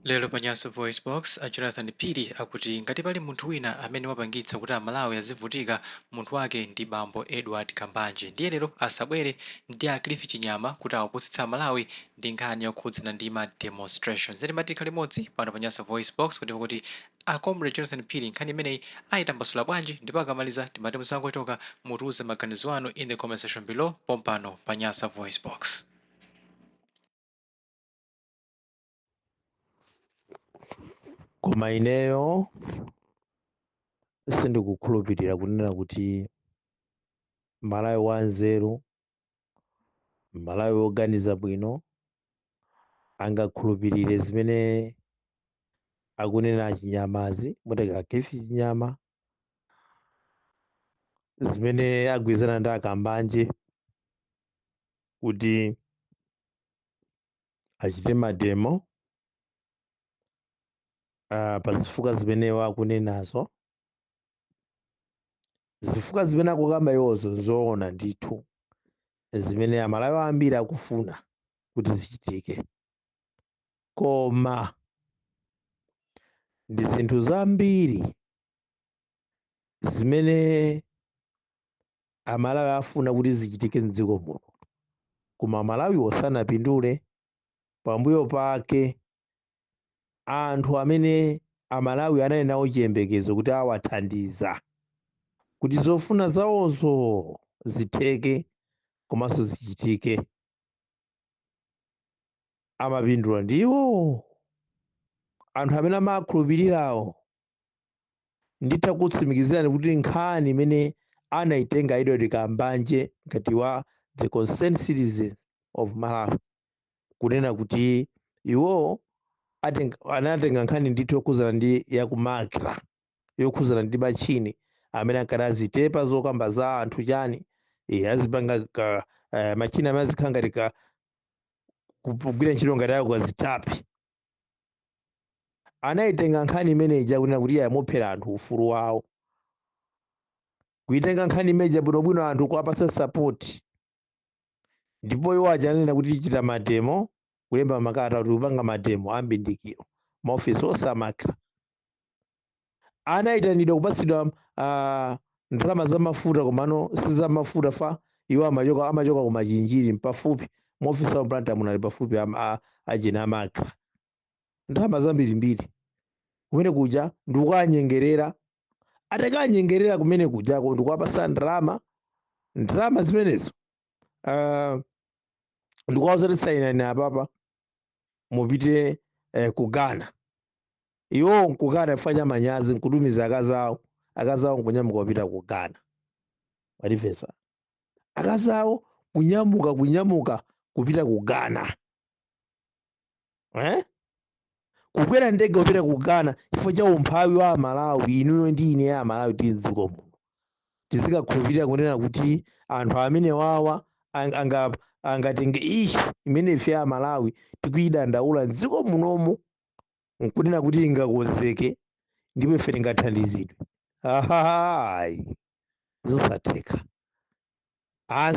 Lero pa Nyasa VoiceBox, a Jonathan Phiri akuti ngati pali munthu wina amene wapangitsa kuti Amalawi azivutika, munthu wake ndi bambo Edward Kambanje. Ndiye lero asabwere ndi a Cliff Chinyama kuti awapusitse Amalawi ndi nkhani yokhudzana ndi ma demonstrations. Nde timati tikhale limodzi pano pa Nyasa VoiceBox kuti timve kuti a Comrade Jonathan Phiri nkhani imeneyi ayitambasula bwanji ndipo akamaliza timati musangochoka, mutiuze maganizo anu in the comment section below pompano pa Nyasa VoiceBox. koma ineyo sindikukhulupirira kunena kuti malawi wanzeru malawi woganiza bwino angakhulupirire zimene akunena achinyamazi muteka cliff chinyama zimene agwirizana ndi akambanje kuti achite mademo uh, pa zifukwa zimene iwo akunenazo zifukwa zimene akukamba iwozo nzoona ndithu zimene amalawi ambiri akufuna kuti zichitike koma ndi zinthu zambiri zimene amalawi afuna kuti zichitike mdziko muno koma amalawiwo sanapindule pambuyo pake anthu amene amalawi anali nawo chiyembekezo kuti awathandiza kuti zofuna zawozo zitheke komanso zichitike amapindula ndiwo anthu amene amakhulupirirawo nditha kukutsimikizirani kuti nkhani imene anaitenga edward kambanje ngati wa the concerned citizens of malawi kunena kuti iwo atenga, anatenga nkhani ndithu yokhuzana ndi yakumakra yokhuzana ndi machini amene ankati azitepa zokamba za anthu chani e, azipanga ka, eh, machini amene azikhala ngati ka- kugwira ntchito ngati akazitape anaitenga nkhani imene ija kunena kuti iyawaphera anthu ufulu wawo kuitenga nkhani imene ija bwinobwino anthu kuwapatsa sapoti ndipo iwo aja ananena kuti tichita mademo kulemba makalata kuti kupanga mademo ambindikiro maofisi onse a makra anaitanidwa kupatsidwa uh, ndalama za mafuta komano si za mafuta pa iwo amachoka amachoka ku machinjiri pafupi maofesi a blantyre munali pafupi ajawa a makra ndalama zambirimbiri kumene kuja ndikukanyengerera atakanyengerera kumene kujako ndikuwapasa ndalama ndalama zimenezo uh, ndikuwauza kuti sainani apapa mupite eh, ku ghana iwowo nkukana chifukwa cha manyazi nkutumiza akazi awo akazi awo nkunyamuka kupita ku ghana mwandimvetsa akazi awo kunyamuka kunyamuka kupita ku ghana eh? kukwera ndege kupita ku ghana chifukwa cha umphawi wa amalawi inuyo ndi ine amalawi tili mdziko muno tizikakhulupirira kunena kuti anthu amene wawa ang- anga angatenge issue imene ife a Malawi tikuyidandaula m'dziko munomu nkunena kuti ingakonzeke ndipo ife tingathandizidwe ayi zosatheka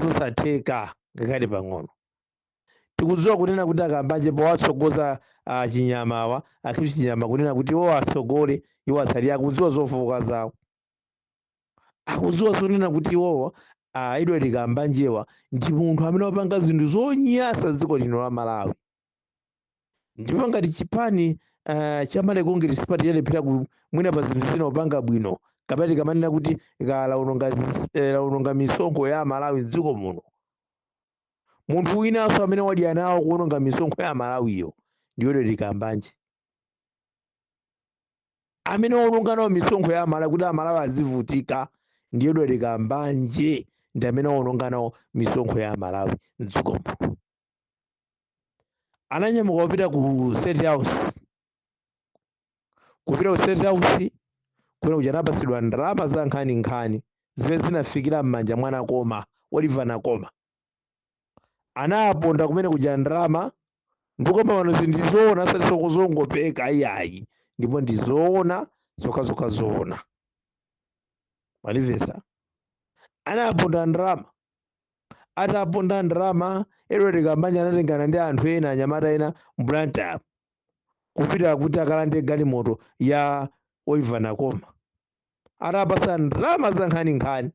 zosatheka ngakhale pang'ono tikudziwa kunena kuti a kambanje powatsogoza a chinyamawa a cliff chinyama kunena kuti iwo atsogole iwo atsali akudziwa zofowoka zawo akudziwa zonena kuti iwowo a edward kambanjewa ndi munthu amene wapanga zinthu zonyasa dziko lino la malawi ndipo ngati chipani uh, cha malawi congress party chalephera ku- mwina pa zinthu zina kupanga bwino kapena tikamanena kuti ka- laononga zis- eh, laononga misonkho ya amalawi mdziko muno munthu winanso amene wadya nawo kuononga misonkho ya amalawiyo ndi edward kambanje amene waononga nawo misonkho ya amalawi kuti amalawi azivutika ndi edward kambanje ndi amene waononga nawo misonkho ya amalawi mdziko muno ananyamuka kupita ku state house kupita ku state house kumene kuja anapatsidwa ndalama zankhaninkhani zimene zinafikira m'manja mwa nakoma oliver nakoma anaponda kumene kuja ndalama ndikukamba panozi ndi zoona osati zoti zongopeka ayayi ndipo ndizoona zokhazokha zoona mwandimvetsa anaponda ndalama ataponda ndalama edward kambanje anatengana ndi anthu ena anyamata ena mblantyremu kupita kuti akalande galimoto ya oliver nakoma atapasa ndalama zankhaninkhani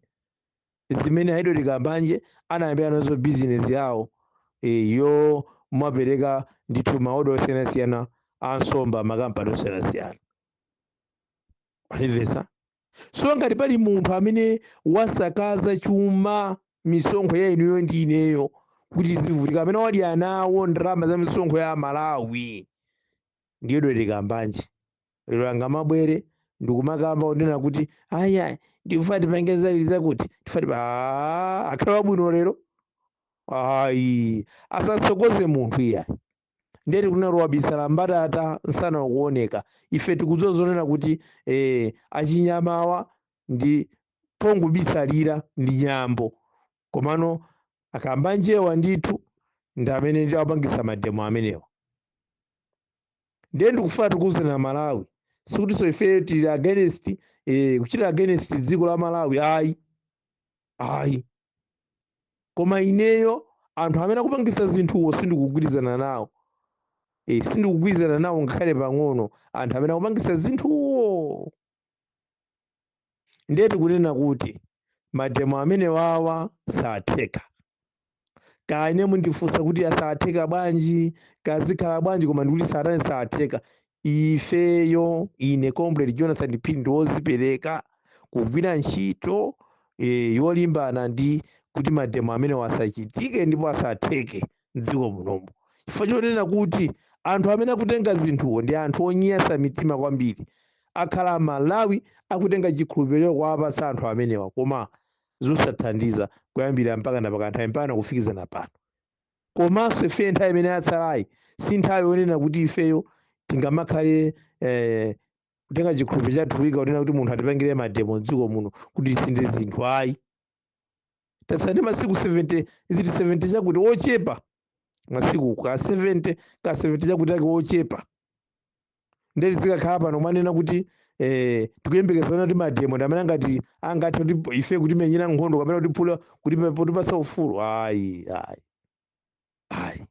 zimene a edward kambanje anayambira nazo bizinesi yawo eh, yomapereka ndithu maoda osiyanasiyana a nsomba m'makampani osiyanasiyana mwandimvetsa so ngati pali munthu amene wasakaza chuma misonkho ya inuyo ndi ineyo kuti tizivutika amene wadya nawo ndalama za misonkho ya amalawi ndi edward kambanje lero angamabwere ndikumakamba kunena kuti ayayi ndikufuna tipange zakuti zakuti tifuna tipa Ah, akhale wabwino lero ayi asatsogoze munthu iyayi ndiye tikunena wabisala mbatata msana ukuoneka ife tikudziwa zonena kuti eh, achinyamawa ndi pongobisalira ndi nyambo komano akamba njewa ndithu ndi amene ati apangise mademo amenewa ndiye ndikufuna tikuwuzeni a malawi sikutinso ifeyo tili against eh, kuchita against dziko la malawi ayi ayi koma ineyo anthu amene akupangisa zinthuwo sindikugwirizana nawo eh, sindikugwirizana nawo ngakhale pang'ono anthu amene akupangisa zinthuwo ndiye tikunena kuti mademo amenewawa satheka kaya mundifunsa kuti satheka bwanji kaya zikhala bwanji koma ndikuti satani, satheka ifeyo ine comrade jonathan phiri ndine wozipereka kugwira ntchito e, yolimbana ndi kuti mademo amenewa asachitike ndipo asatheke mdziko munomu chifukwa chonena kuti anthu amene akutenga zinthuwo ndi anthu onyasa mitima kwambiri akhala malawi akutenga chikhulupiriro kuwapatsa anthu amenewa koma zosathandiza kuyambira pakanapaka nthawi mpaka kufikizana pano komanso ife nthawi imene yatsalayi si nthawi yonena kuti ifeyo tingamakhale eh, kutenga chikhulupiriro chathu kuika kunena kuti munthu atipangire mademo mdziko muno kuti tisinthe zinthu ayi tatsala ndi masiku 70 is it 70 chakuti ochepa masiku ka 70 ka 70 chakuti ake ochepa ndiye tizikakhala pano kumanena kuti eh, tikuyembekeza kunena kuti mademo ndi amene angati angathe kuti ife kutimenyera nkhondo kapena kutiphula kutipa- kutipatsa ufulu ayi ayi ayi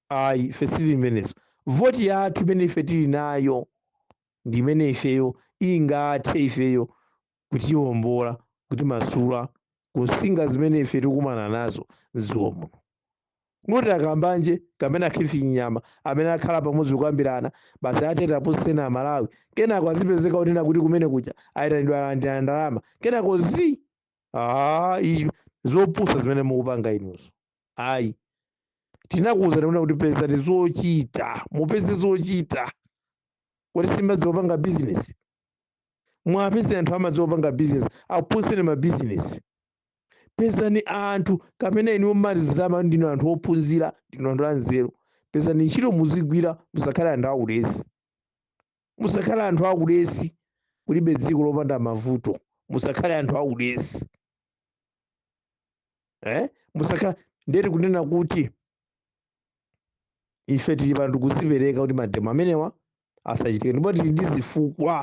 ayi ife sitili imenezo voti yathu imene ife tili nayo ndi imene ifeyo ingathe ifeyo kutiombola, kutimasula ku nsinga zimene ife tikukumana nazo mdziko muno. Kuti akambanje kapena khifi nyama amene akhala pamodzi kukambirana basi atete apusitseni Amalawi, kenako azipezeka kunena kuti kumene kuja ayitanidwa alandira ndalama, kenako zi ah, i- zopusa zimene mukupanga inuzo. Ayi, tinakuwuzani kunena kuti pezani zochita, mupeze zochita. Kodi simadziwa kupanga bizinesi? muwapeze anthu amadziwa kupanga business akuphunzitseni ma business pezani anthu kapena inuyo mumazitama ndinu anthu ophunzira ndinu anthu anzeru pezani ntchito muzigwira musakhale anthu aulesi musakhale anthu aulesi kulibe dziko lopanda mavuto musakhale anthu aulesi eh? musakhala ndiye tikunena kuti ife tili pano tikuzipereka kuti mademo amenewa asachitike ndipo tili ndi zifukwa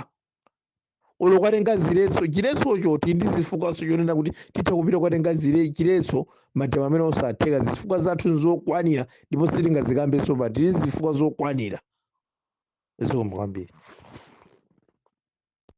olo kwatenga ziletso chiletsocho tili ndi zifukwanso chonena kuti titha kupita kwatenga zile- chiletso mademo amenewa osatheka zifukwa zathu nzokwanira ndipo sitingazikambenso pa tili ndi zifukwa zokwanira zikomo kwambiri